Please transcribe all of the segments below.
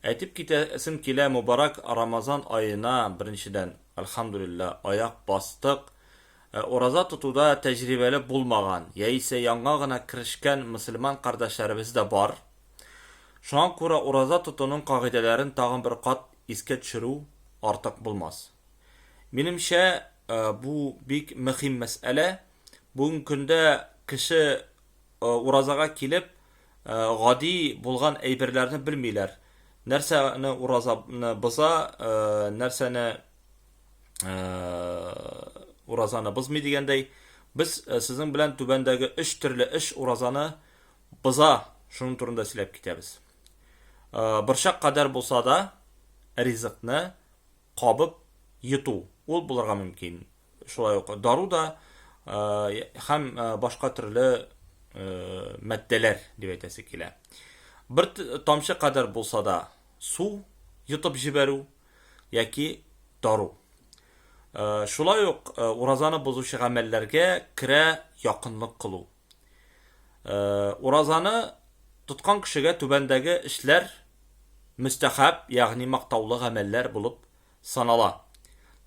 Әйтеп китәсем килә мубарак Рамазан аена беренчедән Әлхәмдүлиллә аяк бастык. Ә ураза тотуда тәҗрибәле булмаган яисә яңа гына керешкән мөселман кардәшләребез дә бар. Шуңа күрә ураза тотуның кагыйдәләрен тагын бер кат искә төшерү артык булмас. Минемчә, бу бик мөхим мәсьәлә. Бүгенге көндә кеше уразага килеп, Гади булган әйберләрне белмиләр. Нәрсәне уразаны боза, нәрсәне уразаны бозмый дигәндәй, без сезнең белән түбәндәге өч төрле эш уразаны боза, шуның турында сөйләп китәбез. Борчак кадәр булса да, ризыкны кабып йоту, ул булырга мөмкин. Шулай ук дару да һәм башка төрле матдәләр дип әйтәсе килә. Бер тамчы кадәр булса да су йотып җибәрү яки дару. Шулай ук уразаны бозучы гамәлләргә керә якынлык кылу. Уразаны тоткан кешегә түбәндәге эшләр мөстәхәб, ягъни мактаулы гамәлләр булып санала.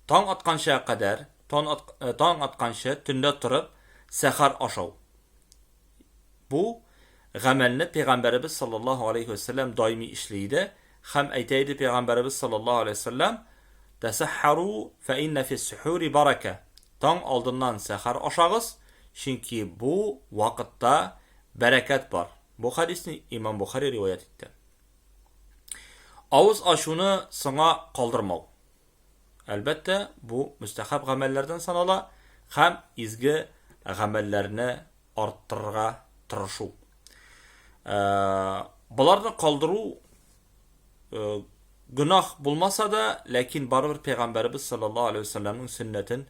Таң атканча кадәр, тон ат, таң атканчы төндә торып сәхәр ашау. Бу гамәлне пәйгамбәребез саллаллаһу алейһи ва сәлләм даими эшли иде һәм әйтә иде пәйгамбәребез саллаллаһу алейһи ва сәлләм тәсәхәру фә иннә фис сухури барака таң алдыннан сәхәр ашагыз чөнки бу вакытта бәрәкәт бар бу хадисне имам бухари риваять итте Авыз ачуны соңа калдырмау. Әлбәттә, бу мөстәхәб гамәлләрдән санала һәм изге гамәлләрне арттырырга тырышу. Э, Боларны калдыру э, гөнаһ булмаса да, ләкин барыбер пәйгамбәребез саллаллаһу алейхи вәсәлләмнең сөннәтен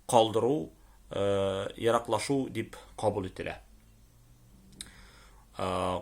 калдыру э, ераклашу дип кабул ителә. Э,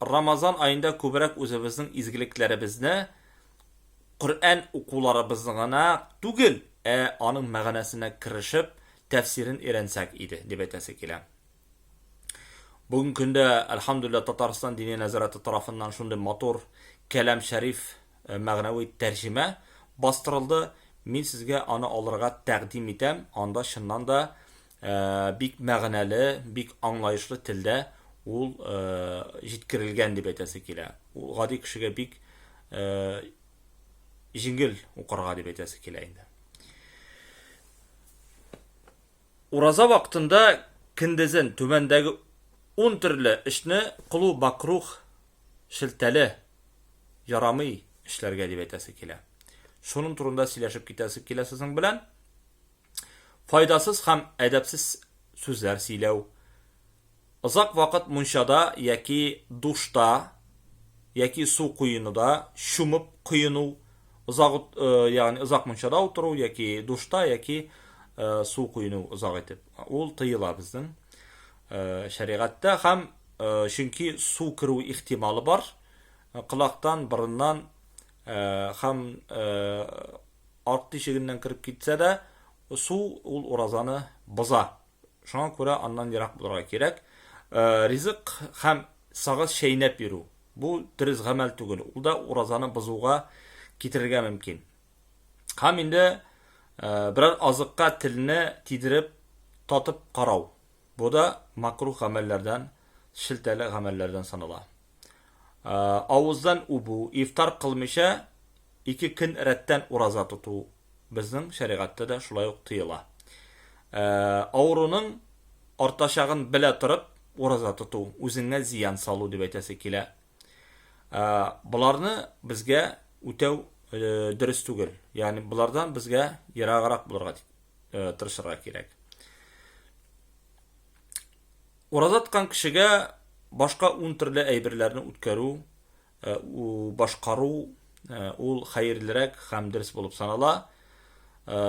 Рамазан аенда күбрәк үзебезнең изгелекләребезне Коръән укуларыбызны гына түгел, ә аның мәгънәсенә керешеп, тәфсирен өйрәнсәк иде, дип әйтәсе килә. Бүген көндә, әлхәмдүлилләһ, Татарстан Дини нәзарәте тарафыннан шундый матур Кәлам шәриф мәгънәви тәрҗемә бастырылды, мин сезгә аны алырга тәкъдим итәм, анда чыннан да Ә, бик мәгънәле, бик аңлаешлы телдә ул ә, җиткерелгән дип әйтәсе килә. Ул гади кешегә бик ә, җиңел укырга дип әйтәсе килә инде. Ураза вакытында киндезен түбәндәге 10 төрле эшне кылу бакрух шелтәле ярамый эшләргә дип әйтәсе килә. Шуның турында сөйләшеп китәсе килә сезнең белән. файдасыз һәм әдәпсез сүзләр сөйләү, озак вакыт мунчада яки душта яки су коенуда чумып коену, озак э, ягъни озак мунчада утыру яки душта яки э, су коену озак итеп. Ул тыела безнең э, шәригатьтә һәм чөнки су керү ихтималы бар. Кылактан, борыннан һәм Арт тишегеннән кереп китсә дә, су ул уразаны боза. Шуңа күрә аннан ерак булырга кирәк. Ризык һәм сагыз чәйнәп йөрү, бу дөрес гамәл түгел, ул да уразаны бозуга китерергә мөмкин. Һәм инде берәр азыкка телне тидереп, татып карау, бу да макруһ гамәлләрдән, шелтәле гамәлләрдән санала. Авыздан үбү, ифтар кылмыйча ике көн рәттән ураза тоту безнең шәригатьтә дә шулай ук тыела. Авыруның артачагын белә торып ураза тоту, үзеңә зыян салу дип әйтәсе килә. Боларны безгә үтәү дөрес түгел. Ягъни болардан безгә ераграк булырга тырышырга кирәк. Ураза тоткан кешегә башка ун төрле әйберләрне үткәрү, э, башкару э, ул хәерлерәк һәм дөрес булып санала. Э,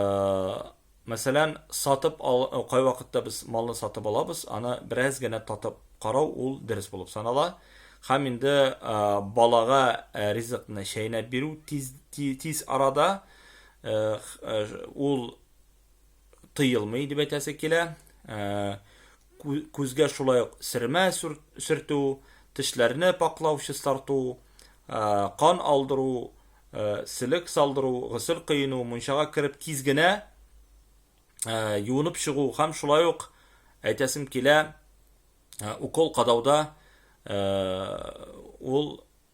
мәсәлән, сатып ал, кай вакытта без малны сатып алабыз, аны бераз генә татып карау ул дөрес булып санала. Һәм инде балага ризыкны чәйнәп бирү тиз, тиз арада ул тыелмый дип әйтәсе килә. Ә, күзгә шулай ук сермә сөртү, тешләрне паклау, чистарту, ә, кан алдыру, ә, селек салдыру, гысел кыйну, мунчага кереп тиз генә ә, юынып чыгу һәм шулай ук әйтәсем килә, ә, укол кадауда ә, ул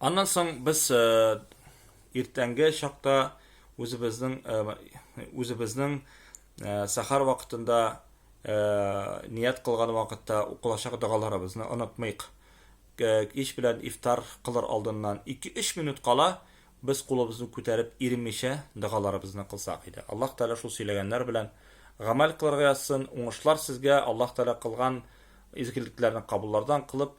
Аннан соң без иртәнге чакта үзебезнең үзебезнең сәхәр вакытында ният кылган вакытта укылачак догаларыбызны онытмыйк. Кич белән ифтар кылыр алдыннан ике-өч минут кала без кулыбызны күтәреп иренмичә догаларыбызны кылсак иде. Аллаһ Тәгалә шул сөйләгәннәр белән гамәл кылырга язсын. Уңышлар сезгә, Аллаһ Тәгалә кылган изгелекләрне кабуллардан кылып,